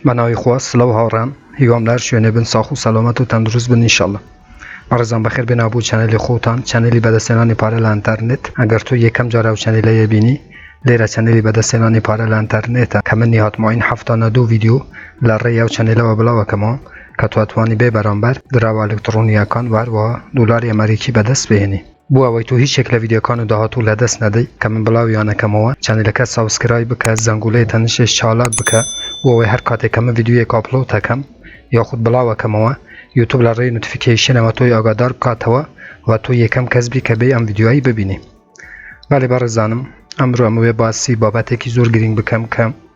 بە ناوی خوا سلاو هاوڕێان هیوام لە هەر شوێنێ بن ساخ و سەلامەت و تەندروست بن انشاللە بەڕێزان بەخێر بێناو بۆ چەنەلی خۆتان چەنەلی بەدەستێنانی پارە لە ئەنتەرنێت ئەگەر تۆ یەکەم جار ئەو چەنەلەیە بینی لێرە چەنەلی بەدەستێنانی پارە لە ئەنتەرنێتە کە من نیهات مۆین هەفتانە دوو ڤیدیۆ لە ڕێی ئەو چەنەلەوە بڵاو ئەکەمەوە کە تۆ ئەتوانی بێ بەرامبەر دراوە ئەلکتڕۆنییەکان و هەروەها دۆلاری ئەمەریکی بەدەست بهێنی. بۆ ئەوەی تۆ هیچ یەک لە ڤیدیۆکان و داهاتوو لە دەست نەدەی کە من بڵاویان ئەکەمەوە چەنەلەکە سەوسکرایب بکە زەنگولەی تەنشش چالاک بکە بۆ ئەوەی هەر کاتێک کە من ڤیدیۆیەک ئاپلۆت ئەکەم یاخود بڵاو ئەکەمەوە یوتوب لە ڕێی نوتفیکەیشنەوە تۆی ئاگادار بکاتەوە و تۆ یەکەم کەس بی کە بێ ئەم ڤیدیۆیی ببینی بەڵێ بەڕێزانم ئەمرۆ ئەمەوێ باسی بابەتێکی زۆر گرینگ بکەم کە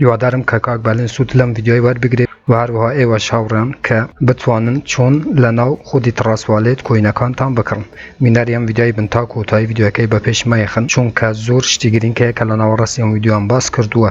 هیوادارم کە کاک بالین سود لەم ڤیدیۆیە وەربگرێت و هەروەها ئێوەش هاوڕێیان کە بتوانن چۆن لەناو خودی تڕاس والێت کۆینەکانتان بکڕن بینەری ئەم ڤیدیۆیە بن تا کۆتایی ڤیدیۆیەکەی بە پێش مەیەخن چونکە زۆر شتی گرینگ هەیە کە لە ناوەڕاستی ئەم ڤیدیۆیەم باس کردووە.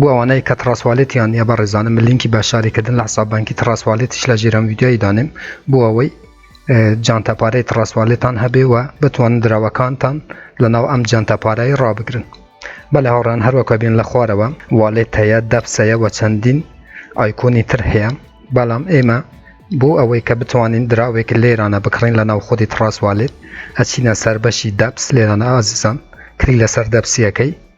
بۆ ئەوانەی کە تڕاسوالێتیان نیە بەڕێزانم من لینکی بەشداری کردن لە حساب بانکی تڕاسوالێتیش لە ژێرم ویدیۆی دانێم بۆ ئەوەی جانتا پارەی تڕاسوالێتان هەبێ و بتوانن دراوەکانتان لە ناو ئەم جانتا پارایی ڕابگرن بە لە هاوڕان هەروەکە بێن لە خوارەوە والێت هەیە دەپسەیە وە چەندین ئایکۆنی تر هەیە بەڵام ئێمە بۆ ئەوەی کە بتوانین دراوێک لێرانە بکڕین لە ناو خودی تڕاسوالێت ئەچینە سەر بەشی دەپس لێرانە ئازیزان کلی لەسەر دەپسیەکەی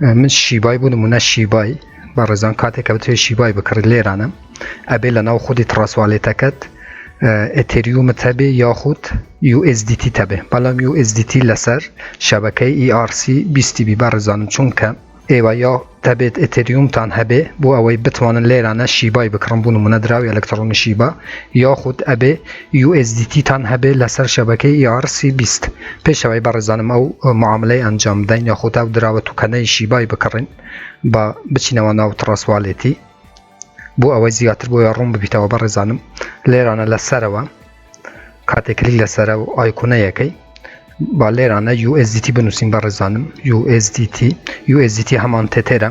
من شیبای بوو نمونە شیبای بە ڕێزان کاتێک کە بتوێ شیبای بکڕیت لێرانە ئەبێ لە ناو خودی تڕاسوالێتەکەت ئەتریومت هەبێ یاخود USDT تەبێ بەڵام USDT لەسەر شەبەکەی ERC 20 بی بە ڕێزانم چونکە ئێوە یا دەبێت ئەتریومتان هەبێ بۆ ئەوەی بتوانن لێرانە شیبای بکڕم بوون منە دراوی ئەلکترۆنی شیبا یاخود ئەبێ USDT تان هەبێ لەسەر شەبەکەی ERC بیست پێش ئەوەی بەڕێزانم ئەو معاملەی ئەنجام بدەین یاخود ئەو دراوە توکەنەی شیبای بکڕین با بچینەوە ناو تڕەسوالێتی بۆ ئەوەی زیاتر بۆیە ڕوون ببیتەوە بەڕێزانم لێرانە لەسەرەوە کاتێک کلیک لەسەرە و ئایکونەیەکەی با لێرانە USDT بنووسین بەڕێزانم USDT USDT هەمان تێتێرە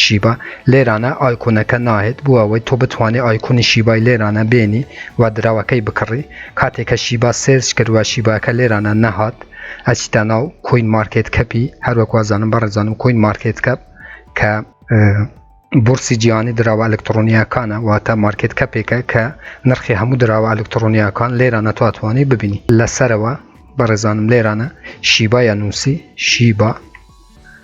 شیبا لێرانە ئایکۆنەکە ناهێت بۆ ئەوەی تۆ بتوانێ ئایکۆنی شیبای لێرانە بێنی و دراوەکەی بکڕی کاتێک کە شیبا سێرچ کرد و شیباکە لێرانە نەهات ئەچیتە ناو کۆین مارکێت کەپی هەروەک وازانم بەڕێزانم کۆین مارکێت کەپ کە بورسی جیهانی دراوە ئەلکترۆنیەکانە واتە مارکێت کەپێکە کە نرخی هەموو دراوە ئەلکترۆنیەکان لێرانە تواتوانی ببینی لەسەرەوە بەڕێزانم لێرانە شیبایە نووسی شیبا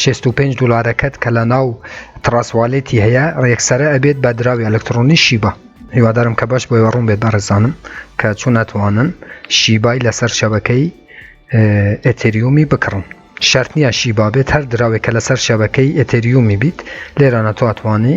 شێست و پێنج دولارەکەت کە لە ناو تڕاسوالێتی هەیە ڕێکسرە ئەبێت بە دراوی ئەلکترۆنی شیبە هیوادارم کە باش بۆی ڕوون بێت بەڕێزانم کە چون ناتوانن شیبای لەسەر شەبەکەی ئەتریومی بکڕن شەرت نییە شیبا بێت هەر دراوێکە لەسەر شەبەکەی ئەتریومی بیت لێرانە تواتوانی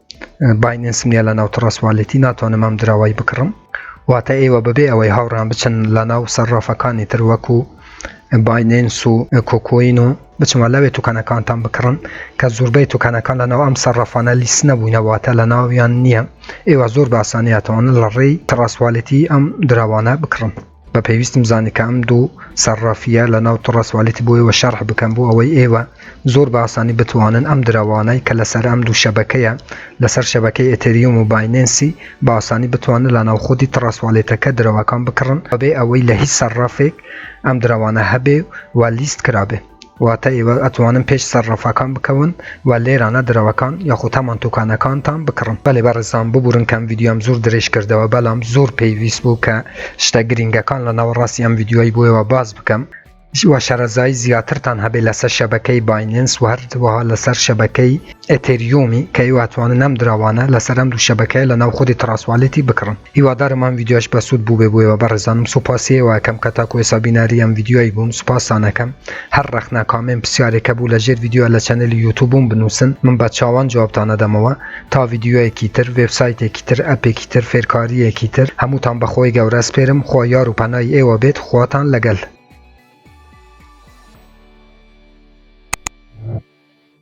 بایننسم نیە لە ناو تڕەس والێتی ناتوانم ئەم دراوەی بکڕم واتە ئێوە بەبێ ئەوەی هاوڕان بچن لە ناو سەرڕافەکانی تر وەکو بایننس و کۆکۆین و بچمە لەوێ توکانەکانتان بکڕن کە زۆربەی توکانەکان لە ناو ئەم سەرڕافانە لیست نەبووینەواتە لە ناویان نییە ئێوە زۆر باسانیاتەوەن لە ڕێی تڕاستوالێتی ئەم دراوانە بکڕن بە پێویستم زانی کە ئەم دوو سەرڕافیە لە ناو تڕە سوالیتی بۆ ئێوە شەرح بکەم بۆ ئەوەی ئێوە زۆر بە ئاسانی بتوانن ئەم دراوانەی کە لەسەر ئەم دوو شەبەکەیە لەسەر شەبەکەی ئەتەریوم و بایننسی بە ئاسانی بتوانن لە ناو خودی تڕە سوالێتەکە درەوەکان بکڕن بەبێ ئەوەی لە هیچ سەرڕافێک ئەم دراوانە هەبێ و لیست کرابێ. واتە ئێوە ئەتوانن پێش سەرڕەفاکان بکەون و لێرانە درەوەکان یاخود هەمان توکانەکانتان بکڕن. بەلی بەڕێزان ببورن کە ئەم ڤیدیۆم زور درێژ کردەوە بەلام زور پێویست بوو کە شتە گرینگەکان لە ناوەڕاستی ئەم ڤیدیۆی بۆ ئێوە باس بکەم و شەرەزایی زیاترتان هەبێ لەسەر شەبەکەی بایننس و هەروەها لەسەر شەبەکەی ئێتێریۆمی کە ئێوە ئەتوانن ئەم دراوانە لەسەر ئەم دوو شەبەکەیە لە ناو خودی تڕاست والیتی بکڕن هیوادارم ئەم ڤیدیۆش بەسوود بووبێ بۆ ئێوە بەڕێزانم سوپاسی ئێوە ئەکەم کە تاکو ئێسا بیناری ئەم ڤیدیۆی بوون سوپاستان ئەکەم هەر ڕەخنە کامێن پسیارێک هەبوو لە ژێر ڤیدیۆ لە چەنەلی یوتوبووم بنووسن من بە چاوان جوابتان ئەدەمەوە تا ڤیدیۆیەکی تر وێبسایتێکی تر ئەپێکی تر فێرکارییەکی تر هەمووتان بە خۆی گەورە سپێرم خوا یار و پەنای ئێوە بێت خواتان لەگەل